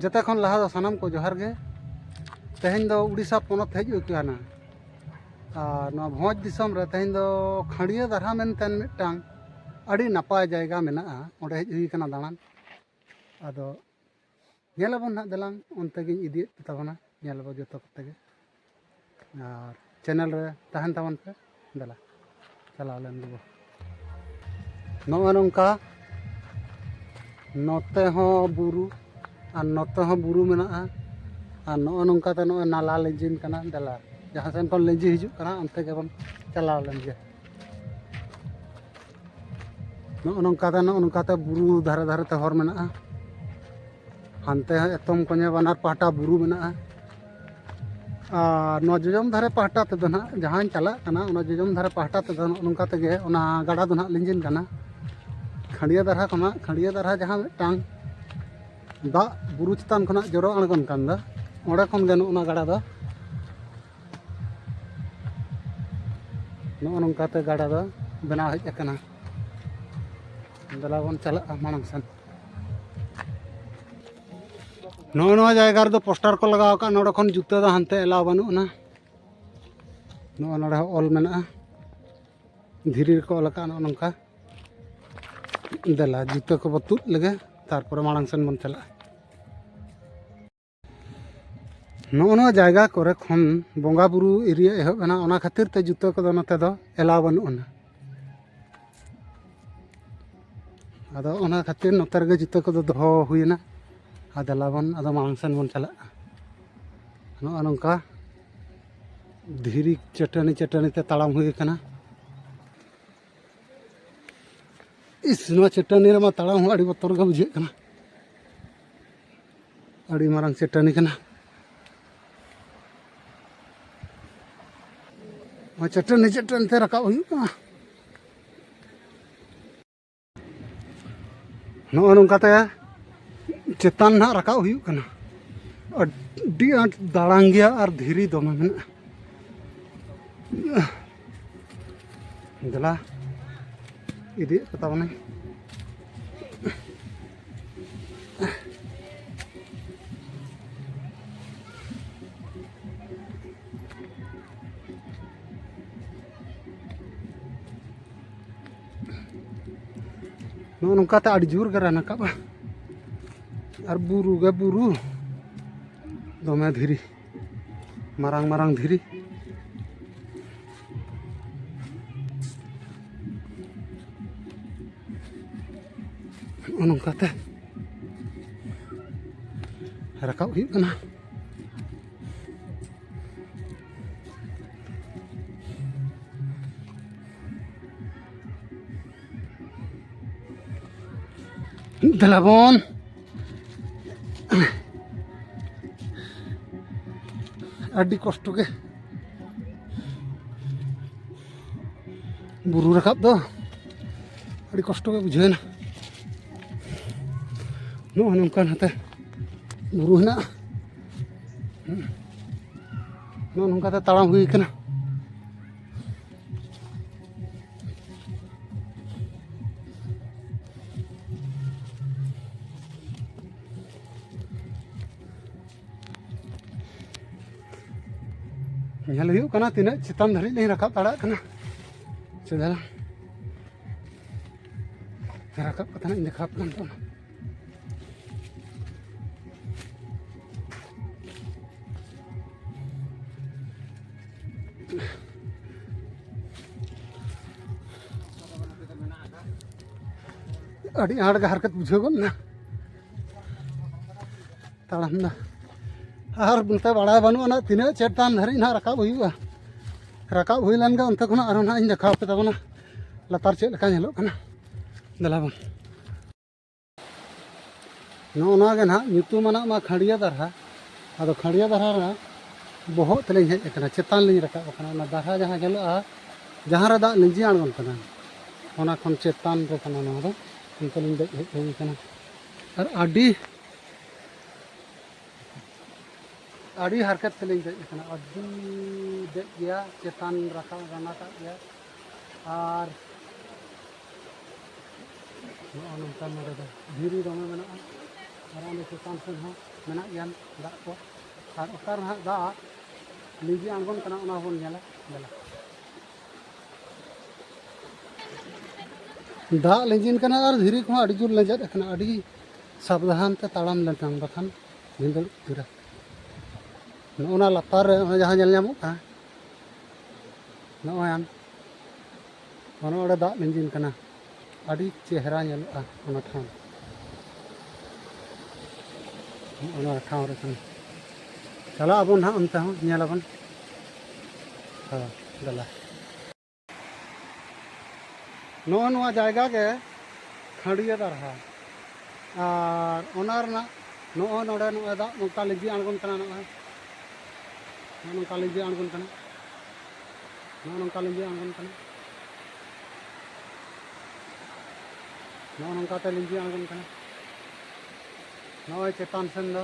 ᱡᱚᱛᱚ ᱠᱷᱚᱱ ᱞᱟᱦᱟ ᱫᱚ ᱥᱟᱱᱟᱢ ᱠᱚ ᱡᱚᱦᱟᱨ ᱜᱮ ᱛᱮᱦᱮᱧ ᱫᱚ ᱩᱲᱤᱥᱥᱟ ᱯᱚᱱᱚᱛ ᱦᱮᱡ ᱦᱩᱭ ᱠᱟᱱᱟ ᱟᱨ ᱱᱚᱣᱟ ᱵᱷᱚᱸᱡᱽ ᱫᱤᱥᱚᱢ ᱨᱮ ᱛᱮᱦᱮᱧ ᱫᱚ ᱠᱷᱟᱸᱰᱤᱭᱟᱹ ᱫᱟᱨᱦᱟ ᱢᱮᱱᱛᱮ ᱢᱤᱫᱴᱟᱝ ᱟᱹᱰᱤ ᱱᱟᱯᱟᱭ ᱡᱟᱭᱜᱟ ᱢᱮᱱᱟᱜᱼᱟ ᱚᱸᱰᱮ ᱦᱮᱡ ᱦᱩᱭ ᱠᱟᱱᱟ ᱫᱟᱬᱟᱱ ᱟᱫᱚ ᱧᱮᱞ ᱟᱵᱚᱱ ᱦᱟᱸᱜ ᱫᱮᱞᱟᱝ ᱚᱱᱛᱮ ᱜᱤᱧ ᱤᱫᱤᱭᱮᱫ ᱯᱮ ᱛᱟᱵᱚᱱᱟ ᱧᱮᱞ ᱟᱵᱚᱱ ᱡᱚᱛᱚ ᱠᱚᱛᱮ ᱜᱮ ᱟᱨ ᱪᱮᱱᱮᱞ ᱨᱮ ᱛᱟᱦᱮᱱ ᱛᱟᱵᱚᱱ ᱯᱮ ᱫᱮᱞᱟ ᱪᱟᱞᱟᱣ ᱞᱮᱱ ᱜᱮᱵᱚ ᱱᱚᱜᱼᱚ ᱱᱚᱝᱠᱟ ᱱᱚᱛᱮ ᱦᱚᱸ ᱵᱩᱨᱩ ᱟᱨ ᱱᱚᱛᱮ ᱦᱚᱸ ᱵᱩᱨᱩ ᱢᱮᱱᱟᱜᱼᱟ ᱟᱨ ᱱᱚᱜᱼᱚ ᱱᱚᱝᱠᱟ ᱛᱮ ᱱᱚᱜᱼᱚᱭ ᱱᱟᱞᱟ ᱞᱤᱸᱡᱤᱱ ᱠᱟᱱᱟ ᱫᱮᱞᱟ ᱡᱟᱦᱟᱸ ᱥᱮᱱ ᱠᱷᱚᱱ ᱞᱤᱸᱡᱤ ᱦᱤᱡᱩᱜ ᱠᱟᱱᱟ ᱚᱱᱛᱮ ᱜᱮᱵᱚᱱ ᱪᱟᱞᱟᱣ ᱞᱮᱱ ᱜᱮ ᱱᱚᱜᱼᱚ ᱱᱚᱝᱠᱟ ᱛᱮ ᱱᱚᱜᱼᱚ ᱱᱚᱝᱠᱟ ᱛᱮ ᱵᱩᱨᱩ ᱫᱷᱟᱨᱮ ᱫᱷᱟᱨᱮ ᱛᱮ ᱦᱚᱨ ᱢᱮᱱᱟᱜᱼᱟ ᱦᱟᱱᱛᱮ ᱦᱚᱸ ᱮᱛᱚᱢ ᱠᱚᱧᱮ ᱵᱟᱱᱟᱨ ᱯᱟᱦᱴᱟ ᱵᱩᱨᱩ ᱢᱮᱱᱟᱜᱼᱟ ᱟᱨ ᱱᱚᱣᱟ ᱡᱚᱡᱚᱢ ᱫᱷᱟᱨᱮ ᱯᱟᱦᱴᱟ ᱛᱮᱫᱚ ᱱᱟᱜ ᱡᱟᱦᱟᱸᱧ ᱪᱟᱞᱟᱜ ᱠᱟᱱᱟ ᱚᱱᱟ ᱡᱚᱡᱚᱢ ᱫᱷᱟᱨᱮ ᱯᱟᱦᱴᱟ ᱛᱮᱫᱚ ᱱᱚᱜᱼᱚ ᱱᱚᱝᱠᱟ ᱛᱮᱜᱮ ᱚᱱᱟ ᱜᱟᱰᱟ ᱫᱚ ᱱᱟᱜ ᱞᱤᱸᱡᱤᱱ ᱠᱟᱱᱟ ᱠᱷᱟᱸᱰᱤᱭᱟᱹ ᱫᱟᱨᱦᱟ ᱠᱷᱚᱱᱟᱜ ᱠᱷᱟᱸᱰᱤᱭᱟᱹ ᱫᱟᱨᱦᱟ ᱡᱟᱦᱟᱸ ᱢᱤᱫᱴᱟᱝ ᱫᱟᱜ ᱵᱩᱨᱩ ᱪᱮᱛᱟᱱ ᱠᱷᱚᱱᱟᱜ ᱡᱚᱨᱚ ᱟᱬᱜᱚᱱ ᱠᱟᱱ ᱫᱚ ᱚᱸᱰᱮ ᱠᱷᱚᱱ ᱜᱮ ᱱᱚᱜᱼᱚ ᱱᱚᱣᱟ ᱜᱟᱰᱟ ᱫᱚ ᱱᱚᱜᱼᱚ ᱱᱚᱝᱠᱟᱛᱮ ᱜᱟᱰᱟ ᱫᱚ ᱵᱮᱱᱟᱣ ᱦᱮᱡ ᱟᱠᱟᱱᱟ ᱫᱮᱞᱟ ᱵᱚᱱ ᱪᱟᱞᱟᱜᱼᱟ ᱢᱟᱲᱟᱝ ᱥᱮᱱ ᱱᱚᱜᱼᱚ ᱱᱚᱣᱟ ᱡᱟᱭᱜᱟ ᱨᱮᱫᱚ ᱯᱳᱥᱴᱟᱨ ᱠᱚ ᱞᱟᱜᱟᱣ ᱟᱠᱟᱫᱼᱟ ᱱᱚᱰᱮ ᱠᱷᱚᱱ ᱡᱩᱛᱟᱹ ᱫᱚ ᱦᱟᱱᱛᱮ ᱮᱞᱟᱣ ᱵᱟᱹᱱᱩᱜ ᱟᱱᱟ ᱱᱚᱜᱼᱚ ᱱᱚᱰᱮ ᱦᱚᱸ ᱚᱞ ᱢᱮᱱᱟᱜᱼᱟ ᱫᱷᱤᱨᱤ ᱨᱮᱠᱚ ᱚᱞ ᱟᱠᱟᱫᱼᱟ ᱱᱚᱜᱼᱚ ᱱᱚᱝᱠᱟ ᱫᱮᱞᱟ ᱡᱩᱛᱟᱹ ᱠᱚᱵᱚ ᱛᱩᱫ ᱞᱮᱜᱮ ᱛᱟᱨᱯᱚᱨᱮ ᱢᱟᱲᱟᱝ ᱥᱮᱱ ᱵᱚᱱ ᱪᱟᱞᱟᱜᱼᱟ ᱱᱚᱜᱼᱚ ᱱᱚᱣᱟ ᱡᱟᱭᱜᱟ ᱠᱚᱨᱮ ᱠᱷᱚᱱ ᱵᱚᱸᱜᱟ ᱵᱩᱨᱩ ᱮᱨᱤᱭᱟ ᱮᱦᱚᱵ ᱮᱱᱟ ᱚᱱᱟ ᱠᱷᱟᱹᱛᱤᱨ ᱛᱮ ᱡᱩᱛᱟᱹ ᱠᱚᱫᱚ ᱱᱚᱛᱮ ᱫᱚ ᱮᱞᱟᱣ ᱵᱟᱹᱱᱩᱜ ᱟᱱᱟ ᱟᱫᱚ ᱚᱱᱟ ᱠᱷᱟᱹᱛᱤᱨ ᱱᱚᱛᱮ ᱨᱮᱜᱮ ᱡᱩᱛᱟᱹ ᱠᱚᱫᱚ ᱫᱚᱦᱚ ᱦᱩᱭᱮᱱᱟ ᱟᱨ ᱫᱮᱞᱟ ᱵᱚᱱ ᱟᱫᱚ ᱢᱟᱲᱟᱝ ᱥᱮᱱ ᱵᱚᱱ ᱪᱟᱞᱟᱜᱼᱟ ᱱᱚᱜᱼᱚ ᱱᱚᱝᱠᱟ ᱫᱷᱤᱨᱤ ᱪᱟᱹᱴᱟᱹᱱᱤ ᱪᱟᱹᱴᱟᱹᱱᱤ ᱛᱮ ᱛᱟᱲᱟᱢ ᱦᱩᱭ ᱠᱟᱱᱟ ᱤᱥ ᱱᱚᱣᱟ ᱪᱟᱹᱴᱟᱹᱱᱤ ᱨᱮᱢᱟ ᱛᱟᱲᱟᱢ ᱦᱚᱸ ᱟᱹᱰᱤ ᱵᱚᱛᱚᱨ ᱜᱮ ᱵᱩᱡᱷᱟᱹᱜ ᱠᱟᱱᱟ ᱟᱹᱰᱤ ᱢᱟᱨᱟᱝ ᱪᱟᱹᱴᱟᱹᱱᱤ ᱠᱟᱱᱟ ᱱᱚᱣᱟ ᱪᱟᱹᱴᱟᱹᱱᱤ ᱪᱟᱹᱴᱟᱹᱱᱤ ᱛᱮ ᱨᱟᱠᱟᱵ ᱦᱩᱭᱩᱜ ᱠᱟᱱᱟ ᱱᱚᱜᱼᱚ ᱱᱚᱝᱠᱟᱛᱮ ᱪᱮᱛᱟᱱ ᱱᱟᱦᱟᱜ ᱨᱟᱠᱟᱵ ᱦᱩᱭᱩᱜ ᱠᱟᱱᱟ ᱟᱹᱰᱤ ᱟᱸᱴ ᱫᱟᱲᱟᱝ ᱜᱮᱭᱟ ᱟᱨ ᱫᱷᱤᱨᱤ ᱫᱚᱢᱮ ᱢᱮᱱᱟᱜᱼᱟ ᱫᱮᱞᱟ ᱤᱫᱤᱭᱮᱫ ᱠᱚ ᱛᱟᱵᱚᱱᱟᱹᱧ ᱱᱚᱜᱼᱚ ᱱᱚᱝᱠᱟᱛᱮ ᱟᱹᱰᱤ ᱡᱳᱨ ᱜᱮ ᱨᱟᱠᱟᱵᱼᱟ ᱟᱨ ᱵᱩᱨᱩ ᱜᱮ ᱵᱩᱨᱩ ᱫᱚᱢᱮ ᱫᱷᱤᱨᱤ ᱢᱟᱨᱟᱝ ᱢᱟᱨᱟᱝ ᱫᱷᱤᱨᱤ ᱱᱚᱜᱼᱚ ᱱᱚᱝᱠᱟᱛᱮ ᱨᱟᱠᱟᱵ ᱦᱩᱭᱩᱜ ᱠᱟᱱᱟ ᱫᱮᱞᱟᱵᱚᱱ ᱟᱹᱰᱤ ᱠᱚᱥᱴᱚ ᱜᱮ ᱵᱩᱨᱩ ᱨᱟᱠᱟᱵ ᱫᱚ ᱟᱹᱰᱤ ᱠᱚᱥᱴᱚ ᱜᱮ ᱵᱩᱡᱷᱟᱹᱣᱮᱱᱟ ᱱᱚᱜᱼᱚᱭ ᱱᱚᱝᱠᱟᱱ ᱦᱟᱛᱮ ᱵᱩᱨᱩ ᱦᱮᱱᱟᱜᱼᱟ ᱱᱚᱜᱼᱚ ᱱᱚᱝᱠᱟᱛᱮ ᱛᱟᱲᱟᱢ ᱦᱩᱭ ᱠᱟᱱᱟ ᱧᱮᱞ ᱦᱩᱭᱩᱜ ᱠᱟᱱᱟ ᱛᱤᱱᱟᱹᱜ ᱪᱮᱛᱟᱱ ᱫᱷᱟᱹᱨᱤᱡ ᱞᱤᱧ ᱨᱟᱠᱟᱵ ᱫᱟᱲᱮᱭᱟᱜ ᱠᱟᱱᱟ ᱪᱮᱫᱟᱜ ᱨᱟᱠᱟᱵ ᱠᱟᱛᱮ ᱦᱟᱸᱜ ᱤᱧ ᱫᱮᱠᱷᱟᱣ ᱟᱯᱮ ᱠᱟᱱᱟ ᱟᱹᱰᱤ ᱟᱸᱴ ᱜᱮ ᱦᱟᱨᱠᱮᱛ ᱵᱩᱡᱷᱟᱹᱣ ᱜᱚᱫ ᱮᱱᱟ ᱛᱟᱲᱟᱢ ᱫᱟ ᱟᱨ ᱱᱚᱛᱮ ᱵᱟᱲᱟᱭ ᱵᱟᱹᱱᱩᱜᱼᱟ ᱱᱟᱜ ᱛᱤᱱᱟᱹᱜ ᱪᱮᱛᱟᱱ ᱫᱷᱟᱹᱨᱤᱡ ᱱᱟᱜ ᱨᱟᱠᱟᱵ ᱦᱩᱭᱩᱜᱼᱟ ᱨᱟᱠᱟᱵ ᱦᱩᱭ ᱞᱮᱱᱜᱮ ᱚᱱᱛᱮ ᱠᱷᱚᱱᱟᱜ ᱟᱨᱦᱚᱸ ᱱᱟᱜ ᱤᱧ ᱫᱮᱠᱷᱟᱣ ᱟᱯᱮ ᱛᱟᱵᱚᱱᱟ ᱞᱟᱛᱟᱨ ᱪᱮᱫ ᱞᱮᱠᱟ ᱧᱮᱞᱚᱜ ᱠᱟᱱᱟ ᱫᱮᱞᱟ ᱵᱚᱱ ᱱᱚᱜᱼᱚ ᱱᱚᱣᱟ ᱜᱮ ᱱᱟᱦᱟᱜ ᱧᱩᱛᱩᱢᱟᱱᱟᱜ ᱢᱟ ᱠᱷᱟᱹᱲᱤᱭᱟᱹ ᱫᱟᱨᱦᱟ ᱟᱫᱚ ᱠᱷᱟᱹᱲᱤᱭᱟᱹ ᱫᱟᱨᱦᱟ ᱨᱮᱱᱟᱜ ᱵᱚᱦᱚᱜ ᱛᱮᱞᱤᱧ ᱦᱮᱡ ᱟᱠᱟᱱᱟ ᱪᱮᱛᱟᱱ ᱞᱤᱧ ᱨᱟᱠᱟᱵ ᱟᱠᱟᱱᱟ ᱚᱱᱟ ᱫᱟᱨᱦᱟ ᱡᱟᱦᱟᱸ ᱧᱮᱞᱚᱜᱼᱟ ᱡᱟᱦᱟᱸ ᱨᱮ ᱫᱟᱜ ᱞᱤᱸᱡᱤ ᱟᱬᱜᱚᱱ ᱠᱟᱱᱟ ᱚᱱᱟ ᱠᱷᱚᱱ ᱪᱮᱛᱟᱱ ᱨᱮ ᱠᱟᱱᱟ ᱱᱚᱣᱟ ᱫᱚ ᱚᱱᱛᱮ ᱞᱤᱧ ᱫᱮᱡ ᱦᱮᱡ ᱦᱩᱭ ᱟᱠᱟᱱᱟ ᱟᱨ ᱟᱹᱰᱤ ᱟᱹᱰᱤ ᱦᱟᱨᱠᱮᱛ ᱛᱮᱞᱤᱧ ᱫᱮᱡ ᱟᱠᱟᱱᱟ ᱟᱹᱰᱤ ᱫᱮᱡ ᱜᱮᱭᱟ ᱪᱮᱛᱟᱱ ᱨᱟᱠᱟᱵ ᱨᱟᱱᱟᱴᱟᱜ ᱜᱮᱭᱟ ᱟᱨ ᱱᱚᱜᱼᱚ ᱱᱚᱝᱠᱟ ᱱᱚᱰᱮ ᱫᱚ ᱫᱷᱤᱨᱤ ᱫᱚᱢᱮ ᱢᱮᱱᱟᱜᱼᱟ ᱟᱨ ᱚᱸᱰᱮ ᱪᱮᱛᱟᱱ ᱥᱮᱫ ᱦᱚᱸ ᱢᱮᱱᱟᱜ ᱜᱮᱭᱟ ᱫᱟᱜ ᱠᱚ ᱟᱨ ᱚᱠᱟ ᱨᱮᱱᱟᱜ ᱫᱟᱜ ᱞᱤᱸᱡᱤ ᱟᱬᱜᱚᱱ ᱠᱟᱱᱟ ᱚᱱᱟ ᱦᱚᱸᱵᱚᱱ ᱧᱮᱞᱟ ᱫᱮᱞᱟ ᱫᱟᱜ ᱞᱤᱸᱡᱤᱱ ᱠᱟᱱᱟ ᱟᱨ ᱫᱷᱤᱨᱤ ᱠᱚᱦᱚᱸ ᱟᱹᱰᱤ ᱡᱳᱨ ᱞᱮᱸᱡᱮᱫ ᱟᱠᱟᱱᱟ ᱟᱹᱰᱤ ᱥᱟᱵᱫᱷᱟᱱ ᱛᱮ ᱛᱟᱲᱟᱢ ᱞᱮᱱᱠᱷᱟᱱ ᱵᱟᱠᱷᱟᱱ ᱵᱷᱤᱸᱫᱟᱹᱲ ᱩᱛᱟᱹᱨᱟ ᱱᱚᱜᱼᱚ ᱱᱟ ᱞᱟᱛᱟᱨ ᱨᱮ ᱡᱟᱦᱟᱸ ᱧᱮᱞ ᱧᱟᱢᱚᱜ ᱠᱟᱱᱟ ᱱᱚᱜᱼᱚᱭ ᱟᱢ ᱚᱱᱟ ᱚᱸᱰᱮ ᱫᱟᱜ ᱞᱤᱸᱡᱤᱱ ᱠᱟᱱᱟ ᱟᱹᱰᱤ ᱪᱮᱦᱨᱟ ᱧᱮᱞᱚᱜᱼᱟ ᱚᱱᱟ ᱴᱷᱟᱶ ᱚᱱᱟ ᱴᱷᱟᱶ ᱨᱮ ᱠᱟᱱᱟ ᱪᱟᱞᱟᱜ ᱟᱵᱚᱱ ᱦᱟᱸᱜ ᱚᱱᱛᱮ ᱦᱚᱸ ᱧᱮᱞ ᱟᱵᱚᱱ ᱦᱳᱭ ᱫᱮᱞᱟ ᱱᱚᱜᱼᱚ ᱱᱚᱣᱟ ᱡᱟᱭᱜᱟ ᱜᱮ ᱠᱷᱟᱹᱰᱤᱭᱟᱹ ᱫᱟᱨᱦᱟ ᱟᱨ ᱚᱱᱟ ᱨᱮᱱᱟᱜ ᱱᱚᱜᱼᱚᱭ ᱱᱚᱰᱮ ᱱᱚᱜᱼᱚᱭ ᱫᱟᱜ ᱱᱚᱝᱠᱟ ᱞᱤᱸᱡᱤ ᱟᱬᱜᱚᱱ ᱠᱟᱱᱟ ᱱᱚᱜᱼᱚᱭ ᱱᱚᱜᱼᱚ ᱱᱚᱝᱠᱟ ᱞᱤᱸᱡᱤ ᱟᱬᱜᱚᱱ ᱠᱟᱱᱟ ᱱᱚᱜᱼᱚ ᱱᱚᱝᱠᱟ ᱞᱤᱸᱡᱤ ᱟᱬᱜᱚᱱ ᱠᱟᱱᱟ ᱱᱚᱜᱼᱚ ᱱᱚᱝᱠᱟᱛᱮ ᱞᱤᱸᱡᱤ ᱟᱬᱜᱚᱱ ᱠᱟᱱᱟ ᱱᱚᱜᱼᱚᱭ ᱪᱮᱛᱟᱱ ᱥᱮᱱ ᱫᱚ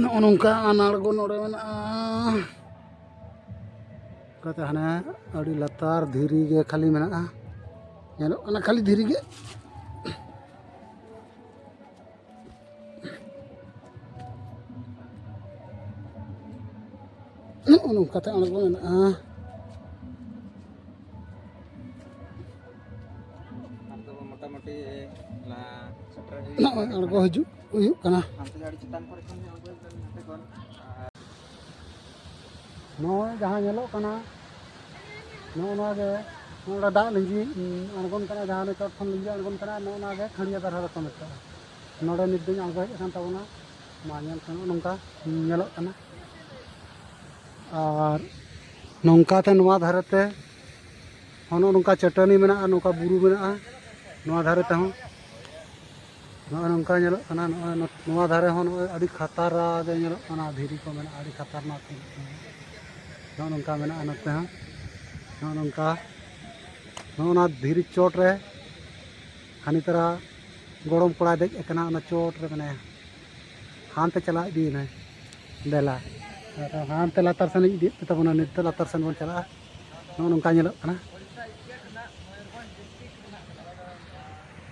ᱱᱚᱜᱼᱚ ᱱᱚᱝᱠᱟ ᱟᱱᱟᱲᱜᱚ ᱱᱚᱰᱮ ᱢᱮᱱᱟᱜᱼᱟ ᱚᱱᱠᱟᱛᱮ ᱦᱟᱱᱮ ᱟᱹᱰᱤ ᱞᱟᱛᱟᱨ ᱫᱷᱤᱨᱤ ᱜᱮ ᱠᱷᱟᱹᱞᱤ ᱢᱮᱱᱟᱜᱼᱟ ᱧᱮᱞᱚᱜ ᱠᱟᱱᱟ ᱠᱷᱟᱹᱞᱤ ᱫᱷᱤᱨᱤ ᱜᱮ ᱱᱚᱜᱼᱚ ᱱᱚᱝᱠᱟᱛᱮ ᱟᱬᱜᱚ ᱢᱮᱱᱟᱜᱼᱟ ᱱᱚᱜᱼᱚᱭ ᱟᱬᱜᱚ ᱦᱤᱡᱩᱜ ᱦᱩᱭᱩᱜ ᱠᱟᱱᱟ ᱱᱚᱜᱼᱚᱭ ᱡᱟᱦᱟᱸ ᱧᱮᱞᱚᱜ ᱠᱟᱱᱟ ᱱᱚᱜᱼᱚ ᱱᱚᱣᱟ ᱜᱮ ᱱᱚᱰᱮ ᱫᱟᱜ ᱞᱤᱸᱡᱤ ᱟᱬᱜᱚᱱ ᱠᱟᱱᱟ ᱡᱟᱦᱟᱸ ᱪᱚᱴ ᱠᱷᱚᱱ ᱞᱤᱸᱡᱤ ᱟᱬᱜᱚᱱ ᱠᱟᱱᱟ ᱱᱚᱜᱼᱚ ᱱᱚᱣᱟ ᱜᱮ ᱠᱷᱟᱹᱲᱤᱭᱟᱹ ᱫᱟᱨᱦᱟ ᱫᱚᱠᱚ ᱢᱮᱛᱟᱜᱼᱟ ᱱᱚᱰᱮ ᱱᱤᱛ ᱫᱚᱧ ᱟᱬᱜᱚ ᱦᱮᱡ ᱟᱠᱟᱱ ᱛᱟᱵᱚᱱᱟ ᱢᱟ ᱧᱮᱞ ᱠᱷᱟᱱ ᱱᱚᱝᱠᱟ ᱧᱮᱞᱚᱜ ᱠᱟᱱᱟ ᱟᱨ ᱱᱚᱝᱠᱟᱛᱮ ᱱᱚᱣᱟ ᱫᱷᱟᱨᱮᱛᱮ ᱱᱚᱜᱼᱚ ᱱᱚᱝᱠᱟ ᱪᱟᱹᱴᱟᱹᱱᱤ ᱢᱮᱱᱟᱜᱼᱟ ᱱᱚᱝᱠᱟ ᱵᱩᱨᱩ ᱢᱮᱱᱟᱜᱼᱟ ᱱᱚᱣᱟ ᱫᱷᱟᱨᱮ ᱛᱮᱦᱚᱸ ᱱᱚᱜᱼᱚ ᱱᱚᱝᱠᱟ ᱧᱮᱞᱚᱜ ᱠᱟᱱᱟ ᱱᱚᱜᱼᱚᱭ ᱱᱚᱣᱟ ᱫᱷᱟᱨᱮ ᱦᱚᱸ ᱱᱚᱜᱼᱚᱭ ᱟᱹᱰᱤ ᱠᱷᱟᱛᱟᱨᱟ ᱜᱮ ᱧᱮᱞᱚᱜ ᱠᱟᱱᱟ ᱫᱷᱤᱨᱤ ᱠᱚ ᱢᱮᱱᱟᱜᱼᱟ ᱟᱹᱰᱤ ᱠᱷᱟᱛᱟᱨᱱᱟᱠ ᱧᱮᱞᱚᱜ ᱠᱟᱱᱟ ᱱᱚᱜᱼᱚ ᱱᱚᱝᱠᱟ ᱢᱮᱱᱟᱜᱼᱟ ᱱᱚᱛᱮ ᱦᱚᱸ ᱱᱚᱜᱼᱚ ᱱᱚᱝᱠᱟ ᱱᱚᱜᱼᱚ ᱱᱚᱣᱟ ᱫᱷᱤᱨᱤ ᱪᱚᱴ ᱨᱮ ᱦᱟᱹᱱᱤ ᱛᱟᱨᱟ ᱜᱚᱲᱚᱢ ᱠᱚᱲᱟᱭ ᱫᱮᱡ ᱟᱠᱟᱱᱟ ᱚᱱᱟ ᱪᱚᱴ ᱨᱮ ᱢᱮᱱᱟᱭᱟ ᱦᱟᱱᱛᱮ ᱪᱟᱞᱟᱣ ᱤᱫᱤᱭᱮᱱᱟᱭ ᱫᱮᱞᱟ ᱦᱟᱱᱛᱮ ᱞᱟᱛᱟᱨ ᱥᱮᱱ ᱤᱫᱤᱭᱮᱫ ᱛᱟᱵᱚᱱᱟ ᱱᱤᱛ ᱫᱚ ᱞᱟᱛᱟᱨ ᱥᱮᱱ ᱵᱚᱱ ᱪᱟᱞᱟᱜᱼᱟ ᱱᱚᱜᱼᱚ ᱱᱚᱝᱠᱟ ᱧᱮᱞᱚᱜ ᱠᱟᱱᱟ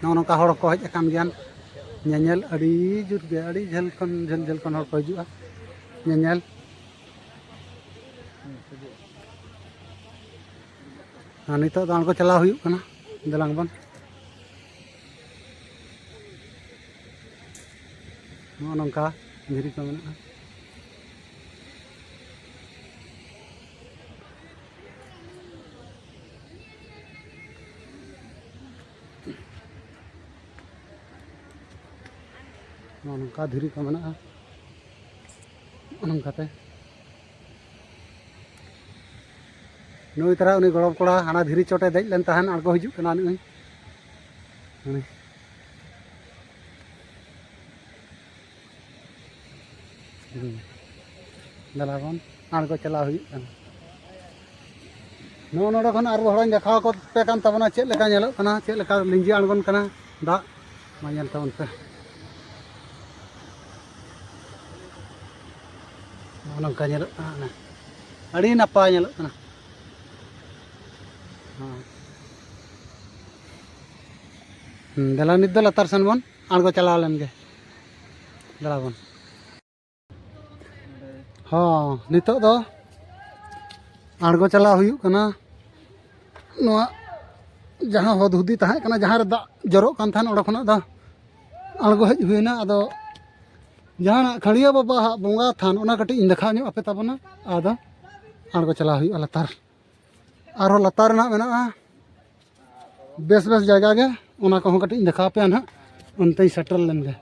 ᱱᱚᱜᱼᱚ ᱱᱚᱝᱠᱟ ᱦᱚᱲ ᱠᱚ ᱦᱮᱡ ᱟᱠᱟᱱ ᱜᱮᱭᱟ ᱧᱮᱧᱮᱞ ᱟᱹᱰᱤ ᱡᱩᱛ ᱜᱮ ᱟᱹᱰᱤ ᱡᱷᱟᱹᱞ ᱠᱷᱚᱱ ᱡᱷᱟᱹᱞ ᱡᱷᱟᱹᱞ ᱠᱷᱚᱱ ᱦᱚᱲ ᱠᱚ ᱦᱤᱡᱩᱜᱼᱟ ᱧᱮᱧᱮᱞ ᱟᱨ ᱱᱤᱛᱚᱜ ᱫᱚ ᱟᱬᱜᱚ ᱪᱟᱞᱟᱣ ᱦᱩᱭᱩᱜ ᱠᱟᱱᱟ ᱫᱮᱞᱟᱝ ᱵᱚᱱ ᱱᱚᱜᱼᱚ ᱱᱚᱝᱠᱟ ᱫᱷᱤᱨᱤ ᱠᱚ ᱢᱮᱱᱟᱜᱼᱟ ᱱᱚᱜᱼᱚ ᱱᱚᱝᱠᱟ ᱫᱷᱤᱨᱤ ᱠᱚ ᱢᱮᱱᱟᱜᱼᱟ ᱱᱚᱜᱼᱚ ᱱᱚᱝᱠᱟᱛᱮ ᱱᱩᱭ ᱛᱟᱨᱟ ᱩᱱᱤ ᱜᱚᱲᱚᱢ ᱠᱚᱲᱟ ᱦᱟᱱᱟ ᱫᱷᱤᱨᱤ ᱪᱚᱴᱮ ᱫᱮᱡ ᱞᱮᱱ ᱛᱟᱦᱮᱱ ᱟᱬᱜᱚ ᱦᱤᱡᱩᱜ ᱠᱟᱱᱟ ᱱᱩᱭ ᱫᱟᱞᱟ ᱵᱚᱱ ᱟᱬᱜᱚ ᱪᱟᱞᱟᱣ ᱦᱩᱭᱩᱜ ᱠᱟᱱᱟ ᱱᱚᱜᱼᱚ ᱱᱚᱰᱮ ᱠᱷᱚᱱ ᱟᱨ ᱦᱚᱲᱟᱧ ᱫᱮᱠᱷᱟᱣ ᱠᱚ ᱯᱮ ᱠᱟᱱ ᱛᱟᱵᱚᱱᱟ ᱪᱮᱫ ᱞᱮᱠᱟ ᱧᱮᱞᱚᱜ ᱠᱟᱱᱟ ᱪᱮᱫ ᱞᱮᱠᱟ ᱞᱤᱸᱡᱤ ᱟᱬᱜᱚᱱ ᱠᱟᱱᱟ ᱫᱟᱜ ᱢᱟ ᱧᱮᱞ ᱛᱟᱵᱚᱱ ᱯᱮ ᱱᱚᱜᱼᱚ ᱱᱚᱝᱠᱟ ᱧᱮᱞᱚᱜ ᱠᱟᱱᱟ ᱟᱹᱰᱤ ᱱᱟᱯᱟᱭ ᱧᱮᱞᱚᱜ ᱠᱟᱱᱟ ᱫᱮᱞᱟ ᱱᱤᱛ ᱫᱚ ᱞᱟᱛᱟᱨ ᱥᱮᱱ ᱵᱚᱱ ᱟᱬᱜᱚ ᱪᱟᱞᱟᱣ ᱞᱮᱱ ᱜᱮ ᱫᱟᱬᱟ ᱵᱚᱱ ᱦᱚᱸ ᱱᱤᱛᱚᱜ ᱫᱚ ᱟᱬᱜᱚ ᱪᱟᱞᱟᱣ ᱦᱩᱭᱩᱜ ᱠᱟᱱᱟ ᱱᱚᱣᱟ ᱡᱟᱦᱟᱸ ᱦᱚᱫ ᱦᱩᱫᱤ ᱛᱟᱦᱮᱸ ᱠᱟᱱᱟ ᱡᱟᱦᱟᱸ ᱨᱮ ᱫᱟᱜ ᱡᱚᱨᱚᱜ ᱠᱟᱱ ᱛᱟᱦᱮᱱ ᱚᱸᱰᱮ ᱠᱷᱚᱱᱟᱜ ᱫᱚ ᱟᱬᱜᱚ ᱦᱮᱡ ᱦᱩᱭᱱᱟ ᱟᱫᱚ ᱡᱟᱦᱟᱱᱟᱜ ᱠᱷᱟᱹᱲᱤᱭᱟᱹ ᱵᱟᱵᱟᱣᱟᱜ ᱵᱚᱸᱜᱟ ᱛᱷᱟᱱ ᱚᱱᱟ ᱠᱟᱹᱴᱤᱡ ᱤᱧ ᱫᱮᱠᱷᱟᱣ ᱧᱚᱜ ᱟᱯᱮ ᱛᱟᱵᱚᱱᱟ ᱟᱫᱚ ᱟᱬᱜᱚ ᱪᱟᱞᱟᱣ ᱦᱩᱭᱩᱜᱼᱟ ᱞᱟᱛᱟᱨ ᱟᱨᱦᱚᱸ ᱞᱟᱛᱟᱨ ᱨᱮᱱᱟᱜ ᱢᱮᱱᱟᱜᱼᱟ ᱵᱮᱥ ᱵᱮᱥ ᱡᱟᱭᱜᱟ ᱜᱮ ᱚᱱᱟ ᱠᱚᱦᱚᱸ ᱠᱟᱹᱴᱤᱡ ᱤᱧ ᱫᱮᱠᱷᱟᱣ ᱟᱯᱮᱭᱟ ᱱᱟᱦᱟᱜ ᱚᱱᱛᱮᱧ ᱥᱮᱴᱮᱨ ᱞᱮᱱ ᱜᱮ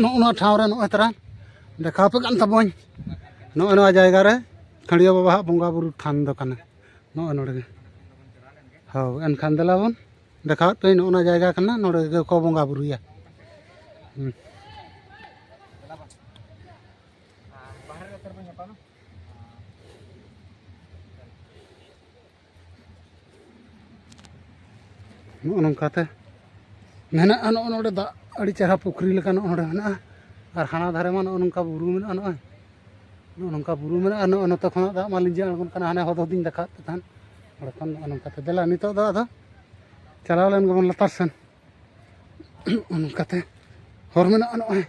ᱱᱚᱜᱼᱚ ᱱᱚᱣᱟ ᱴᱷᱟᱶ ᱨᱮ ᱱᱚᱜᱼᱚᱭ ᱛᱟᱨᱟ ᱫᱮᱠᱷᱟᱣ ᱟᱯᱮ ᱠᱟᱱ ᱛᱟᱵᱚᱱ ᱱᱚᱜᱼᱚ ᱱᱚᱣᱟ ᱡᱟᱭᱜᱟ ᱨᱮ ᱠᱷᱟᱹᱲᱤᱭᱟᱹ ᱵᱟᱵᱟᱣᱟᱜ ᱵᱚᱸᱜᱟ ᱵᱩᱨᱩ ᱛᱷᱟᱱ ᱫᱚ ᱠᱟᱱᱟ ᱱᱚᱜᱼᱚᱭ ᱱᱚᱰᱮ ᱜᱮ ᱦᱳᱭ ᱮᱱᱠᱷᱟᱱ ᱫᱮᱞᱟ ᱵᱚᱱ ᱫᱮᱠᱷᱟᱣᱮᱫ ᱯᱮᱭᱟᱹᱧ ᱱᱚᱜᱼᱚ ᱱᱚᱣᱟ ᱡᱟᱭᱜᱟ ᱠᱟᱱᱟ ᱱᱚᱰᱮ ᱜᱮᱠᱚ ᱵᱚᱸᱜᱟ ᱵᱩᱨᱩᱭᱟ Ah, bahan letter punya apa? ᱱᱚᱜᱼᱚ ᱱᱚᱝᱠᱟᱛᱮ ᱢᱮᱱᱟᱜᱼᱟ ᱱᱚᱜᱼᱚ ᱱᱚᱰᱮ ᱫᱟᱜ ᱟᱹᱰᱤ ᱪᱮᱦᱨᱟ ᱯᱩᱠᱷᱨᱤ ᱞᱮᱠᱟ ᱱᱚᱜᱼᱚ ᱱᱚᱰᱮ ᱢᱮᱱᱟᱜᱼᱟ ᱟᱨ ᱦᱟᱱᱟ ᱫᱷᱟᱨᱮ ᱢᱟ ᱱᱚᱜᱼᱚ ᱱᱚᱝᱠᱟ ᱵᱩᱨᱩ ᱢᱮᱱᱟᱜᱼᱟ ᱱᱚᱜᱼᱚᱭ ᱱᱚᱜᱼᱚ ᱱᱚᱝᱠᱟ ᱵᱩᱨᱩ ᱢᱮᱱᱟᱜᱼᱟ ᱱᱚᱜᱼᱚ ᱱᱚᱛᱮ ᱠᱷᱚᱱᱟᱜ ᱫᱟᱜ ᱢᱟ ᱞᱤᱸᱡᱤ ᱟᱬᱜᱚᱱ ᱠᱟᱱᱟ ᱦᱟᱱᱮ ᱦᱚᱫ ᱦᱚᱫᱤᱧ ᱫᱮᱠᱷᱟᱣᱮᱫ ᱯᱮ ᱛᱟᱦᱮᱸᱫ ᱚᱸᱰᱮ ᱠᱷᱚᱱ ᱱᱚᱜᱼᱚ ᱱᱚᱝᱠᱟᱛᱮ ᱫᱮᱞᱟ ᱱᱤᱛᱚᱜ ᱫᱚ ᱟᱫᱚ ᱪᱟᱞᱟᱣ ᱞᱮᱱ ᱜᱮᱵᱚᱱ ᱞᱟᱛᱟᱨ ᱥᱮᱱ ᱚᱱᱠᱟᱛᱮ ᱦᱚᱨ ᱢᱮᱱᱟᱜᱼᱟ ᱱᱚᱜᱼᱚᱭ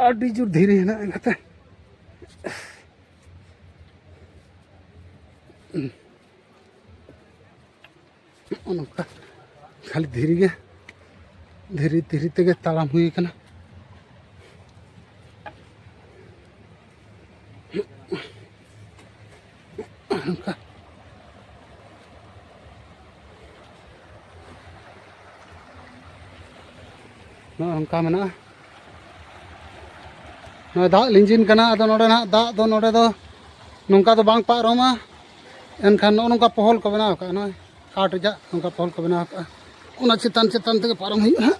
ᱟᱹᱰᱤ ᱡᱳᱨ ᱫᱷᱤᱨᱤ ᱦᱮᱱᱟᱜᱼᱟ ᱮᱱᱠᱟᱛᱮ ᱱᱚᱜᱼᱚ ᱱᱚᱝᱠᱟ ᱠᱷᱟᱹᱞᱤ ᱫᱷᱤᱨᱤ ᱜᱮ ᱫᱷᱤᱨᱤ ᱫᱷᱤᱨᱤ ᱛᱮᱜᱮ ᱛᱟᱲᱟᱢ ᱦᱩᱭ ᱠᱟᱱᱟ ᱱᱚᱝᱠᱟ ᱱᱚᱜᱼᱚ ᱱᱚᱝᱠᱟ ᱢᱮᱱᱟᱜᱼᱟ ᱱᱚᱜᱼᱚᱭ ᱫᱟᱜ ᱞᱤᱸᱡᱤᱱ ᱠᱟᱱᱟ ᱟᱫᱚ ᱱᱚᱰᱮ ᱱᱟᱜ ᱫᱟᱜ ᱫᱚ ᱱᱚᱰᱮ ᱫᱚ ᱱᱚᱝᱠᱟ ᱫᱚ ᱵᱟᱝ ᱯᱟᱨᱚᱢᱟ ᱮᱱᱠᱷᱟᱱ ᱱᱚᱜᱼᱚ ᱱᱚᱝᱠᱟ ᱯᱚᱦᱚᱞ ᱠᱚ ᱵᱮᱱᱟᱣ ᱠᱟᱜᱼᱟ ᱱᱚᱜᱼᱚᱭ ᱠᱟᱴ ᱨᱮᱭᱟᱜ ᱱᱚᱝᱠᱟ ᱯᱚᱦᱚᱞ ᱠᱚ ᱵᱮᱱᱟᱣ ᱠᱟᱜᱼᱟ ᱚᱱᱟ ᱪᱮᱛᱟᱱ ᱪᱮᱛᱟᱱ ᱛᱮᱜᱮ ᱯᱟᱨᱚᱢ ᱦᱩᱭᱩᱜᱼᱟ ᱦᱟᱸᱜ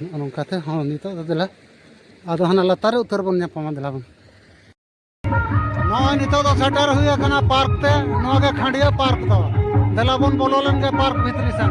ᱱᱚᱜᱼᱚ ᱱᱚᱝᱠᱟᱛᱮ ᱦᱚᱸ ᱱᱤᱛᱚᱜ ᱫᱚ ᱫᱮᱞᱟ ᱟᱫᱚ ᱦᱟᱱᱟ ᱞᱟᱛᱟᱨ ᱨᱮ ᱩᱛᱟᱹᱨ ᱵᱚᱱ ᱧᱟᱯᱟᱢᱟ ᱫᱮᱞᱟ ᱵᱚᱱ ᱱᱚᱜᱼᱚᱭ ᱱᱤᱛᱚᱜ ᱫᱚ ᱥᱮᱴᱮᱨ ᱦᱩᱭ ᱟᱠᱟᱱᱟ ᱯᱟᱨᱠ ᱛᱮ ᱱᱚᱣᱟ ᱜᱮ ᱠᱷᱟᱸᱰᱤᱭᱟᱹ ᱯᱟᱨᱠ ᱫᱚ ᱫᱮᱞᱟ ᱵᱚᱱ ᱵᱚᱞᱚ ᱞᱮᱱ ᱜᱮ ᱯᱟᱨᱠ ᱵᱷᱤᱛᱨᱤ ᱥᱮᱱ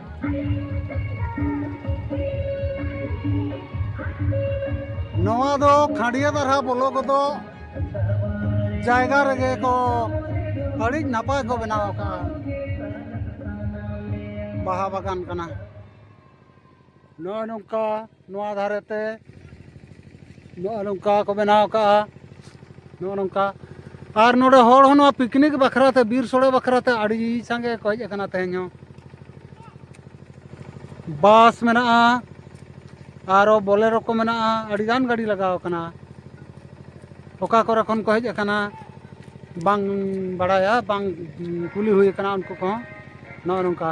ᱱᱚᱣᱟ ᱫᱚ ᱠᱷᱟᱸᱰᱤᱭᱟᱹ ᱫᱟᱨᱦᱟ ᱵᱚᱞᱚ ᱜᱚᱫᱚᱜ ᱡᱟᱭᱜᱟ ᱨᱮᱜᱮ ᱠᱚ ᱟᱹᱰᱤ ᱱᱟᱯᱟᱭ ᱠᱚ ᱵᱮᱱᱟᱣ ᱟᱠᱟᱫᱼᱟ ᱵᱟᱦᱟ ᱵᱟᱜᱟᱱ ᱠᱟᱱᱟ ᱱᱚᱜᱼᱚᱭ ᱱᱚᱝᱠᱟ ᱱᱚᱣᱟ ᱫᱷᱟᱨᱮ ᱛᱮ ᱱᱚᱜᱼᱚ ᱱᱚᱝᱠᱟ ᱠᱚ ᱵᱮᱱᱟᱣ ᱠᱟᱜᱼᱟ ᱱᱚᱜᱼᱚ ᱱᱚᱝᱠᱟ ᱟᱨ ᱱᱚᱰᱮ ᱦᱚᱲ ᱦᱚᱸ ᱱᱚᱣᱟ ᱯᱤᱠᱱᱤᱠ ᱵᱟᱠᱷᱨᱟ ᱛᱮ ᱵᱤᱨ ᱥᱚᱲᱮ ᱵᱟᱠᱷᱨᱟ ᱛᱮ ᱟᱹᱰᱤ ᱥᱟᱸᱜᱮ ᱠᱚ ᱦᱮᱡ ᱟᱠᱟᱱᱟ ᱛᱮᱦᱮᱧ ᱦᱚᱸ ᱵᱟᱥ ᱢᱮᱱᱟᱜᱼᱟ ᱟᱨᱚ ᱵᱚᱞᱮᱨᱚ ᱠᱚ ᱢᱮᱱᱟᱜᱼᱟ ᱟᱹᱰᱤ ᱜᱟᱱ ᱜᱟᱹᱰᱤ ᱞᱟᱜᱟᱣ ᱠᱟᱱᱟ ᱚᱠᱟ ᱠᱚᱨᱮ ᱠᱷᱚᱱ ᱠᱚ ᱦᱮᱡ ᱟᱠᱟᱱᱟ ᱵᱟᱝ ᱵᱟᱲᱟᱭᱟ ᱵᱟᱝ ᱠᱩᱞᱤ ᱦᱩᱭ ᱠᱟᱱᱟ ᱩᱱᱠᱩ ᱠᱚᱦᱚᱸ ᱱᱚᱜᱼᱚ ᱱᱚᱝᱠᱟ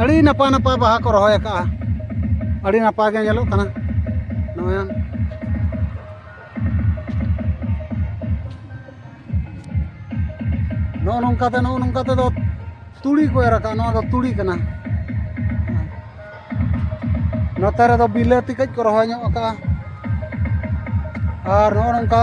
ᱟᱹᱰᱤ ᱱᱟᱯᱟᱭ ᱱᱟᱯᱟᱭ ᱵᱟᱦᱟ ᱠᱚ ᱨᱚᱦᱚᱭ ᱟᱠᱟᱫᱼᱟ ᱟᱹᱰᱤ ᱱᱟᱯᱟᱭ ᱜᱮ ᱧᱮᱞᱚᱜ ᱠᱟᱱᱟ ᱱᱚᱜᱼᱚᱭ ᱱᱚᱜᱼᱚ ᱱᱚᱝᱠᱟ ᱛᱮ ᱱᱚᱜᱼᱚ ᱱᱚᱝᱠᱟ ᱛᱮᱫᱚ ᱛᱩᱲᱤ ᱠᱚ ᱮᱨ ᱟᱠᱟᱫᱼᱟ ᱱᱚᱣᱟ ᱫᱚ ᱛᱩᱲᱤ ᱠᱟᱱᱟ ᱱᱚᱛᱮ ᱨᱮᱫᱚ ᱵᱤᱞᱟᱹᱛᱤ ᱠᱟᱹᱡ ᱠᱚ ᱨᱚᱦᱚᱭ ᱧᱚᱜ ᱟᱠᱟᱫᱼᱟ ᱟᱨ ᱱᱚᱜᱼᱚ ᱱᱚᱝᱠᱟ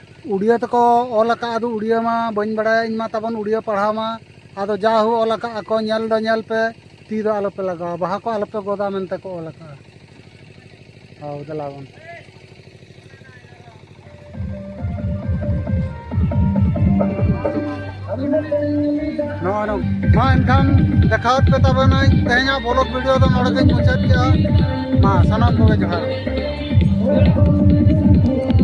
ᱩᱲᱤᱭᱟᱹ ᱛᱮᱠᱚ ᱚᱞ ᱟᱠᱟᱫ ᱟᱫᱚ ᱩᱲᱤᱭᱟᱹ ᱢᱟ ᱵᱟᱹᱧ ᱵᱟᱲᱟᱭᱟ ᱤᱧ ᱢᱟ ᱛᱟᱵᱚᱱ ᱩᱲᱤᱭᱟᱹ ᱯᱟᱲᱦᱟᱣ ᱢᱟ ᱟᱫᱚ ᱡᱟ ᱦᱳ ᱚᱞ ᱟᱠᱟᱫ ᱟᱠᱚ ᱧᱮᱞ ᱫᱚ ᱧᱮᱞ ᱯᱮ ᱛᱤ ᱫᱚ ᱟᱞᱚᱯᱮ ᱞᱟᱜᱟᱣᱟ ᱵᱟᱦᱟ ᱠᱚ ᱟᱞᱚᱯᱮ ᱜᱚᱫᱟ ᱢᱮᱱᱛᱮ ᱠᱚ ᱚᱞ ᱟᱠᱟᱫᱼᱟ ᱦᱳ ᱫᱮᱞᱟ ᱵᱚᱱ ᱱᱚᱜᱼᱚᱭ ᱢᱟ ᱮᱱᱠᱷᱟᱱ ᱫᱮᱠᱷᱟᱣᱟᱫ ᱯᱮ ᱛᱟᱵᱚᱱᱟᱹᱧ ᱛᱮᱦᱮᱧᱟᱜ ᱵᱚᱞᱚᱠ ᱵᱷᱤᱰᱤᱭᱳ ᱫᱚ ᱱᱚᱰᱮ ᱜᱤᱧ ᱢᱩᱪᱟᱹᱫ ᱠᱮᱫᱼᱟ ᱢᱟ ᱥᱟᱱᱟᱢ ᱠᱚᱜᱮ ᱡᱚᱦᱟᱨ